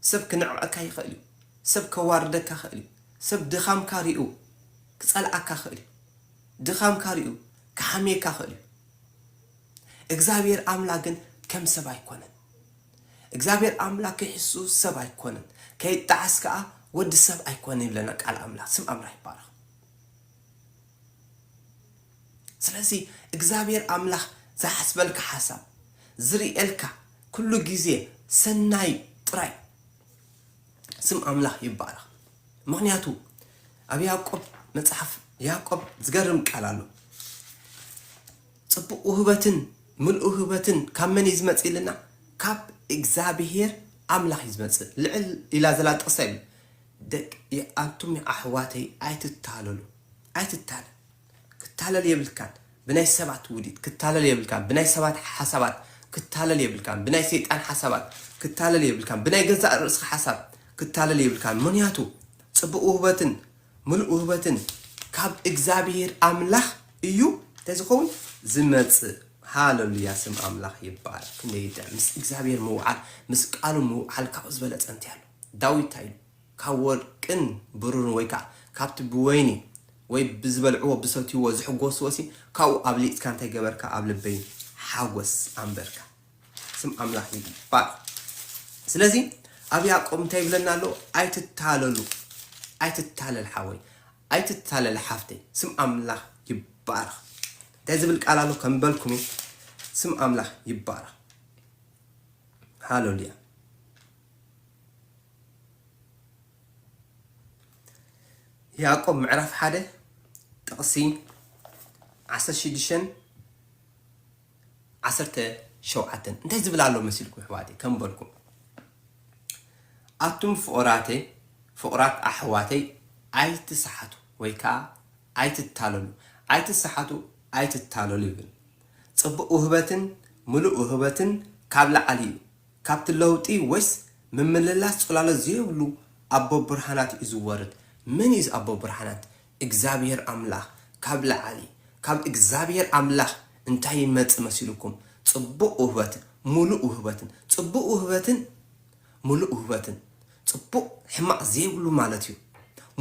ሰብ ክንዕቀካ ይኽእል እዩ ሰብ ከዋርደካ ይኽእል እዩ ሰብ ድኻምካ ሪኡ ክጸልኣካ ይኽእል እዩ ድኻምካ ሪኡ ክሓምየካ ይኽእል እዩ እግዚኣብሄር ኣምላክ ግን ከም ሰብ ኣይኮነን እግዚኣብሄር ኣምላክ ከይሕሱ ሰብ ኣይኮነን ከይጣዓስ ከኣ ወዲ ሰብ ኣይኮነን ይብለና ቃል ኣምላክ ስም ኣምላክ ይባረኽ። ስለዚ እግዚኣብሔር ኣምላኽ ዝሓስበልካ ሓሳብ፣ ዝርእየልካ ኩሉ ግዜ ሰናይ ጥራይ ስም ኣምላኽ ይባረኽ። ምኽንያቱ ኣብ ያዕቆብ መጽሓፍ ያዕቆብ ዝገርም ቃል ኣሎ ጽቡቕ ውህበትን ምልኡ ውህበትን ካብ መን እዩ ዝመጽእ ኢልና ካብ እግዚኣብሔር ኣምላኽ እዩ ዝመጽእ ልዕል ኢላ ዘላ ጥቕሰ እዩ ደቂ ኣንቱም ኣሕዋተይ ኣይትታለሉ ኣይትታለ ክታለል የብልካን ብናይ ሰባት ውዲት ክታለል የብልካን ብናይ ሰባት ሓሳባት ክታለል የብልካን ብናይ ሰይጣን ሓሳባት ክታለል የብልካን ብናይ ገዛእ ርእስኻ ሓሳብ ክታለል የብልካን ምክንያቱ ጽቡቅ ውህበትን ምሉእ ውህበትን ካብ እግዚኣብሄር ኣምላኽ እዩ እንታይ ዝኸውን ዝመጽእ ሃለሉያ ስም ኣምላኽ ይባረክ ክንደይ ምስ እግዚኣብሄር ምውዓል ምስ ቃሉ ምውዓል ካብ ዝበለጸ እንታይ ኣሎ ዳዊት እንታይ ኢሉ ካብ ወርቅን ብሩርን ወይ ከኣ ካብቲ ብወይኒ ወይ ብዝበልዕዎ ብሰትይዎ ዝሕጎስዎሲ ካብኡ ኣብሊጽካ እንታይ ገበርካ ኣብ ልበይ ሓጎስ ኣንበርካ ስም ኣምላኽ ይባርኽ ስለዚ ኣብ ያእቆብ እንታይ ይብለና ኣሎ ኣይትታለሉ ኣይትታለል ሓወይ ኣይትታለል ሓፍተይ ስም ኣምላኽ ይባርኽ እንታይ ዝብል ቃል ኣሎ ከም በልኩም እዩ ስም ኣምላኽ ይባረኽ ሃሌሉያ ያእቆብ ምዕራፍ ሓደ ጥቕሲ ዓሰርተ ሽዱሽተን ዓሰርተ ሸውዓተን እንታይ ዝብል ኣሎ መሲልኩም ኣሕዋተይ ከም በልኩም ኣቱም ፍቑራተይ ፍቑራት ኣሕዋተይ ኣይትስሓቱ ወይ ከዓ ኣይትታለሉ ኣይትስሓቱ ኣይትታለሉ ይብል ፅቡቕ ውህበትን ምሉእ ውህበትን ካብ ላዕሊ እዩ ካብቲ ለውጢ ወይስ ምምልላስ ጽላሎት ዘይብሉ ኣቦ ብርሃናት እዩ ዝወርድ። መን እዩ እዚ ኣቦ ብርሃናት? እግዚኣብሄር ኣምላኽ ካብ ላዕሊ። ካብ እግዚኣብሄር ኣምላኽ እንታይ ይመጽእ መሲሉኩም? ጽቡቕ ውህበትን ምሉእ ውህበትን። ጽቡቕ ውህበትን ምሉእ ውህበትን። ጽቡቕ ሕማቕ ዘይብሉ ማለት እዩ።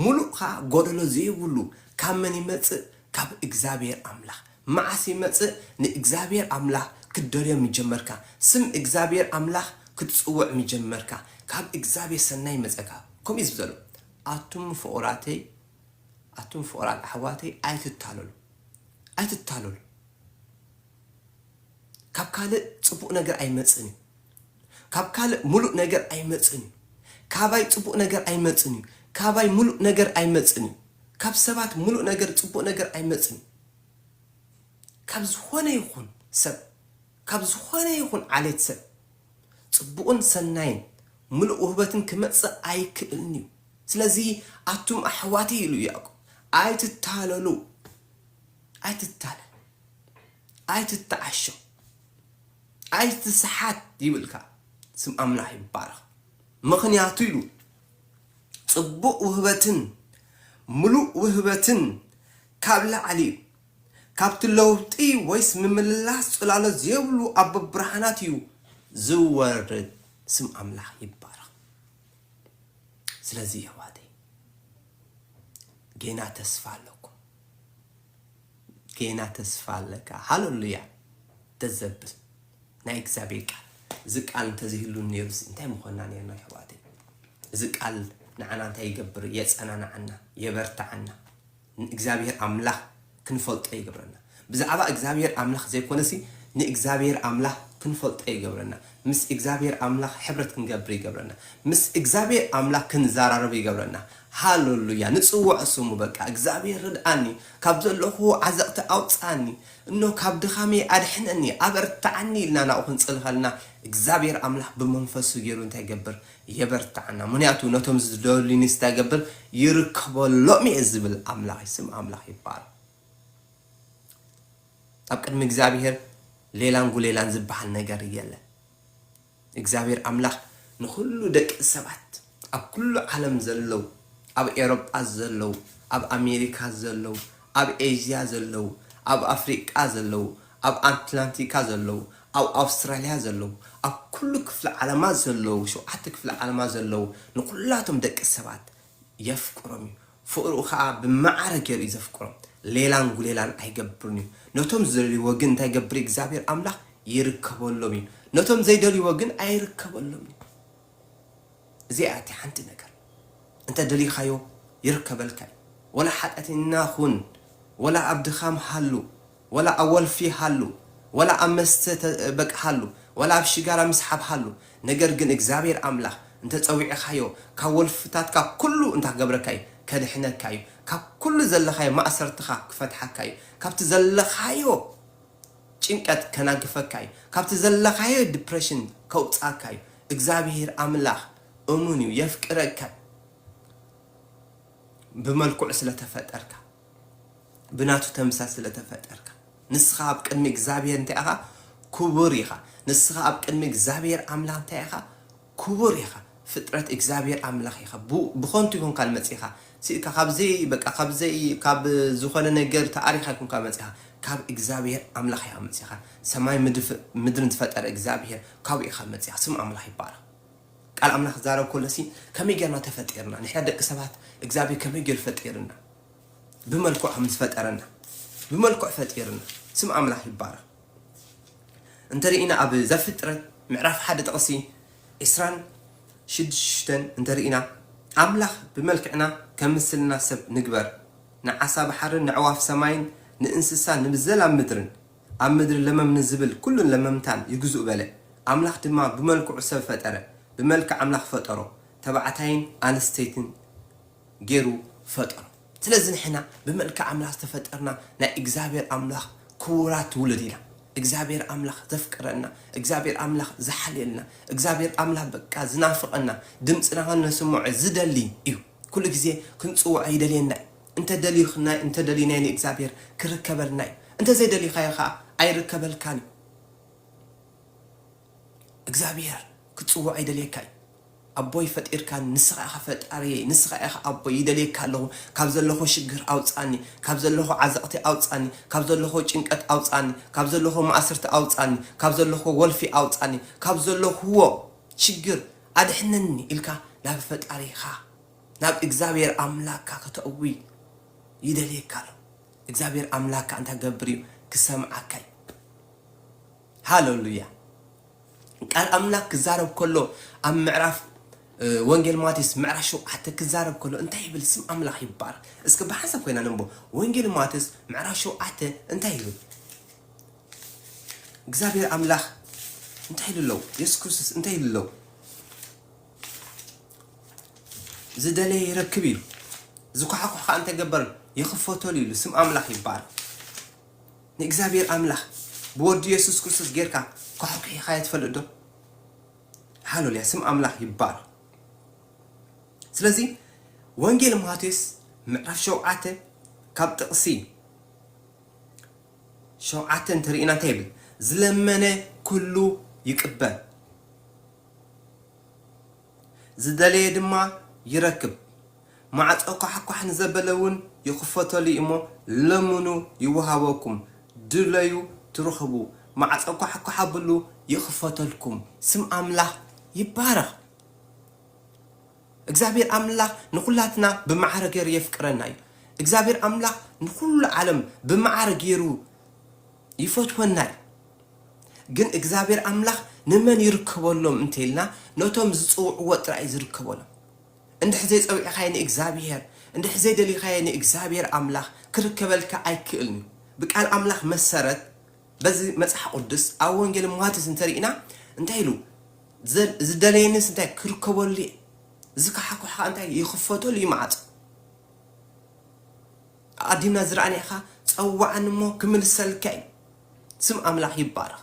ምሉእ ከኣ ጎደሎ ዘይብሉ ካብ መን ይመጽእ? ካብ እግዚኣብሄር ኣምላኽ። መዓስ ይመጽእ ንእግዚኣብሔር ኣምላኽ ክትደልዮ ምጀመርካ ስም እግዚኣብሔር ኣምላኽ ክትጽውዕ ምጀመርካ ካብ እግዚኣብሔር ሰናይ ይመጸካ ከምኡ እዩ ዝብዘሎ ኣቱም ፍቁራተይ ኣቱም ፍቁራት ኣሕዋተይ ኣይትታለሉ ኣይትታለሉ ካብ ካልእ ጽቡቅ ነገር ኣይመጽን እዩ ካብ ካልእ ሙሉእ ነገር ኣይመጽን እዩ ካባይ ጽቡቅ ነገር ኣይመጽን እዩ ካባይ ሙሉእ ነገር ኣይመጽን እዩ ካብ ሰባት ሙሉእ ነገር ጽቡቅ ነገር ኣይመጽን እዩ ካብ ዝኾነ ይኹን ሰብ፣ ካብ ዝኾነ ይኹን ዓሌት ሰብ ጽቡቕን ሰናይን ምሉእ ውህበትን ክመጽእ ኣይክእልን'ዩ። ስለዚ ኣቱም ኣሕዋትይ ኢሉ ያእቆብ ኣይትታለሉ፣ ኣይትታለል፣ ኣይትተዓሾ፣ ኣይትስሓት ይብል ከኣ። ስም ኣምላኽ ይባረኽ። ምኽንያቱ ኢሉ ጽቡቕ ውህበትን ምሉእ ውህበትን ካብ ላዕሊ እዩ ካብቲ ለውጢ ወይስ ምምልላስ ጽላሎት ዜብሉ ኣቦ ብርሃናት እዩ ዚወርድ ስም ኣምላኽ ይባረኽ ስለዚ የሕዋተይ ጌና ተስፋ ኣለኩም ጌና ተስፋ ኣለካ ሃለሉያ ደዘብል ናይ እግዚኣብሔር ቃል እዚ ቃል እንተዘይህሉ ነይሩስ እንታይ ምኾንና ነርና የሕዋተይ እዚ ቃል ንዓና እንታይ ይገብር የጸናንዓና የበርትዓና ንእግዚኣብሄር ኣምላኽ ክንፈልጦ ይገብረና። ብዛዕባ እግዚኣብሄር ኣምላኽ ዘይኮነሲ ንእግዚኣብሄር ኣምላኽ ክንፈልጦ ይገብረና። ምስ እግዚኣብሄር ኣምላኽ ሕብረት ክንገብር ይገብረና። ምስ እግዚኣብሄር ኣምላኽ ክንዛራረብ ይገብረና። ሃለሉያ ንጽውዖ ስሙ በቃ እግዚኣብሄር ርድኣኒ ካብ ዘለኹዎ ዓዘቕቲ ኣውጽኣኒ እኖ ካብ ድኻመይ ኣድሕነኒ ኣበርትዓኒ ኢልና ናብኡ ክንጽሊ ከለና እግዚኣብሄር ኣምላኽ ብመንፈሱ ጌሩ እንታይ ይገብር የበርትዓና ምንያቱ ነቶም ዝደልዩ ንስታይ ገብር ይርከበሎም እየ ዝብል ኣምላኽ እዩ ስም ኣምላኽ ይባረኽ ኣብ ቅድሚ እግዚኣብሔር ሌላን ጉሌላን ዝበሃል ነገር የለን እግዚኣብሔር ኣምላኽ ንኹሉ ደቂ ሰባት ኣብ ኩሉ ዓለም ዘለው ኣብ ኤሮጳ ዘለው ኣብ ኣሜሪካ ዘለው ኣብ ኤዥያ ዘለው ኣብ ኣፍሪቃ ዘለው ኣብ ኣንትላንቲካ ዘለዉ፣ ኣብ ኣውስትራልያ ዘለዉ፣ ኣብ ኩሉ ክፍሊ ዓለማት ዘለዉ፣ ሸውዓተ ክፍሊ ዓለማት ዘለዉ ንኩላቶም ደቂ ሰባት የፍቅሮም እዩ። ፍቕሩ ከኣ ብመዓረ ገይሩ እዩ ዘፍቅሮም። ሌላን ጉሌላን ኣይገብርን እዩ። ነቶም ዝደልይዎ ግን እንታይ ይገብር እዩ እግዚኣብሄር ኣምላኽ? ይርከበሎም እዩ። ነቶም ዘይደልይዎ ግን ኣይርከበሎምን እዩ። እዚኣ እያ ሓንቲ ነገር እንተ ደሊኻዮ ይርከበልካ እዩ ወላ ሓጢኣተይና ኹን ወላ ኣብ ድኻም ሃሉ ወላ ኣብ ወልፊ ሃሉ ወላ ኣብ መስተ በቃ ሃሉ ወላ ኣብ ሽጋራ ምስሓብ ሃሉ ነገር ግን እግዚኣብሔር ኣምላኽ እንተ ጸዊዕኻዮ ካብ ወልፍታትካ ኩሉ እንታ ክገብረካ እዩ ከድሕነካ እዩ ካብ ኩሉ ዘለኻዮ ማእሰርትኻ ክፈትሓካ እዩ ካብቲ ዘለኻዮ ጭንቀት ከናግፈካ እዩ ካብቲ ዘለካዮ ድፕረሽን ከውጻካ እዩ እግዛብሄር ኣምላክ እሙን እዩ የፍቅረካ እዩ ብመልክዑ ስለ ተፈጠርካ ብናቱ ተምሳል ስለ ተፈጠርካ ንስካ ኣብ ቅድሚ እግዛብሄር እንታይ ኢካ ኩቡር ኢካ ንስካ ኣብ ቅድሚ እግዛብሄር ኣምላክ እንታይ ኢካ ኩቡር ኢኻ ፍጥረት እግዛብሄር ኣምላኽ ኢኻ ብኾንቱ ኣይኮንካን መጺኻ ሲኢልካ ካብ ዘይ በቃ ካብ ዘይ ካብ ዝኾነ ነገር ተኣሪኻ ኣይኮንካን መጺኻ ካብ እግዛብሄር ኣምላኽ ኢኻ መጺኻ ሰማይ ምድርን ዝፈጠረ እግዛብሄር ካብኡ ኢኻ መጺኻ ስም ኣምላኽ ይባረኽ ቃል ኣምላኽ ክዛረብ ከሎ ሲ ከመይ ጌርና ተፈጢርና ንሕና ደቂ ሰባት እግዛብሄር ከመይ ጌሩ ፈጢርና ብመልክዑ ከም ዝፈጠረና ብመልክዑ ፈጢርና ስም ኣምላኽ ይባረኽ እንተሪኢና ኣብ ዘፍጥረት ምዕራፍ ሓደ ጥቅሲ ዕስራን ሽዱሽተን እንተሪኢና ኣምላኽ ብመልክዕና ከም ምስልና ሰብ ንግበር ንዓሳ ባሕርን ነዕዋፍ ሰማይን ንእንስሳን ንብዘላ ምድርን ኣብ ምድሪ ለመም ንዝብል ኩሉን ለመምታን ይግዝኡ በለ ኣምላኽ ድማ ብመልክዑ ሰብ ፈጠረ ብመልክዕ ኣምላኽ ፈጠሮ ተባዕታይን ኣንስተይትን ጌሩ ፈጠሮ ስለዚ ንሕና ብመልክዕ ኣምላኽ ዝተፈጠርና ናይ እግዚኣብሔር ኣምላኽ ክቡራት ውሉድ ኢና እግዚኣብሔር ኣምላኽ ዘፍቅረና እግዚኣብሔር ኣምላኽ ዝሓልየልና እግዚኣብሔር ኣምላኽ በቃ ዝናፍቀና ድምጽና ከነስምዖ ዝደሊ እዩ ኩሉ ግዜ ክንጽውዖ ይደልየና እዩ እንተ ደልዩክናዮ እንተ ደሊናዮ ንእግዚኣብሔር ክርከበልና እዩ እንተ ዘይደሊካዮ ከኣ ኣይርከበልካን እዩ እግዚኣብሔር ክትጽውዖ ይደልየካ እዩ ኣቦይ ፈጢርካኒ ንስኻ ኢኻ ፈጣሪየይ ንስኻ ኢኻ ኣቦይ ይደልየካ ኣለኹ ካብ ዘለኹ ሽግር ኣውጻኒ ካብ ዘለኹ ዓዘቕቲ ኣውጻኒ ካብ ዘለኹ ጭንቀት ኣውጻኒ ካብ ዘለኹ ማእስርቲ ኣውጻኒ ካብ ዘለኹ ወልፊ ኣውጻኒ ካብ ዘለኹዎ ሽግር ኣድሕነኒ ኢልካ ናብ ፈጣሪኻ ናብ እግዛብሄር ኣምላካ ከተእዊ ይደልየካ ኣሎ እግዛብሄር ኣምላካ እንታይ ክገብር እዩ ክሰምዓካ እዩ ሃለሉያ። ቃል ኣምላክ ክዛረብ ከሎ ኣብ ምዕራፍ ወንጌል ማቴስ ምዕራፍ ሸውዓተ ክዛረብ ከሎ እንታይ ይብል ስም ኣምላኽ ይባረክ እስኪ ብሓንሳብ ኮይና ነንቦ ወንጌል ማቴስ ምዕራፍ ሸውዓተ እንታይ ይብል እግዚኣብሔር ኣምላኽ እንታይ ኢሉ ኣለው የሱስ ክርስቶስ እንታይ ኢሉ ኣለው ዝደለየ ይረክብ ኢሉ ዝኳሕኩሕ ከዓ እንተገበር ይኽፈተሉ ኢሉ ስም ኣምላኽ ይባረክ ንእግዚኣብሔር ኣምላኽ ብወዱ የሱስ ክርስቶስ ጌርካ ኮሕኩሒኻዮ ትፈልጥ ዶ? ሃሎልያ ስም ኣምላኽ ይባረኽ ስለዚ ወንጌል ማቴዎስ ምዕራፍ ሸውዓተ ካብ ጥቕሲ ሸውዓተ እንተሪኢና እንታይ ይብል ዝለመነ ኩሉ ይቅበል ዝደለየ ድማ ይረክብ ማዕጾ ኳሕኳሕ ንዘበለ ውን ይኽፈተሉ ኢሞ ለምኑ ይውሃበኩም ድለዩ ትርኽቡ ማዕጾ ኳሕኳሕ ኣብሉ ይኽፈተልኩም። ስም ኣምላኽ ይባረኽ እግዚኣብሔር ኣምላኽ ንኹላትና ብማዕረ ገይሩ የፍቅረና እዩ እግዚኣብሔር ኣምላኽ ንኹሉ ዓለም ብማዕረ ገይሩ ይፈትወና እዩ። ግን እግዚኣብሔር ኣምላኽ ንመን ይርከበሎም እንተ ኢልና ነቶም ዝጽውዕዎ ጥራይ እዩ ዝርከበሎም። እንድሕር ዘይጸዊዕኻዮ ንእግዚኣብሔር እንድሕር ዘይደሊኻዮ ንእግዚኣብሔር ኣምላኽ ክርከበልካ ኣይክእልን እዩ። ብቃል ኣምላኽ መሰረት በዚ መጽሓ ቁድስ ኣብ ወንጌል ማቴዎስ እንተ ሪኢና እንታይ ኢሉ ዝደለየንስ እንታይ ክርከበሉ እየ ዝካሓኩሕ ከኣ እንታይ ይኽፈተሉ እዩ መዓጹ። ኣቀዲምና ዝረኣናካ ጸውዓኒ እሞ ክምልሰልካ እዩ ስም ኣምላክ ይባረክ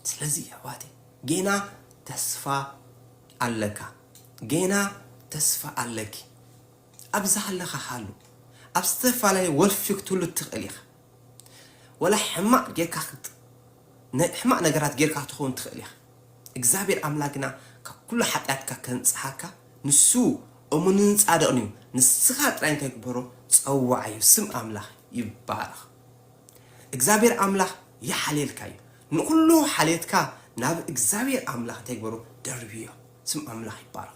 ስለዚ የሕዋተይ ጌና ተስፋ ኣለካ ጌና ተስፋ ኣለኪ ኣብዛሓለካ ሃሉ ኣብ ዝተፋላለየ ወልፊ ክትህሉ ትክእል ኢካ። ወላ ሕማቅ ጌርካ ክት ሕማቅ ነገራት ጌርካ ክትኸውን ትኽእል ኢኻ እግዝኣብሄር ኣምላክ ግና ካብ ኩሉ ሓጥያትካ ከንጽሃካ ንሱ እሙንን ጻድቅን እዩ ንስኻ ጥራይ እንታይ ግበሮ ጸውዓዮ ስም ኣምላኽ ይባረኽ እግዝኣብሄር ኣምላኽ ይሓልየልካ እዩ ንኹሉ ሓልየትካ ናብ እግዝኣብሄር ኣምላኽ እንታይ ግበሮ ደርብዮ ስም ኣምላኽ ይባረኽ።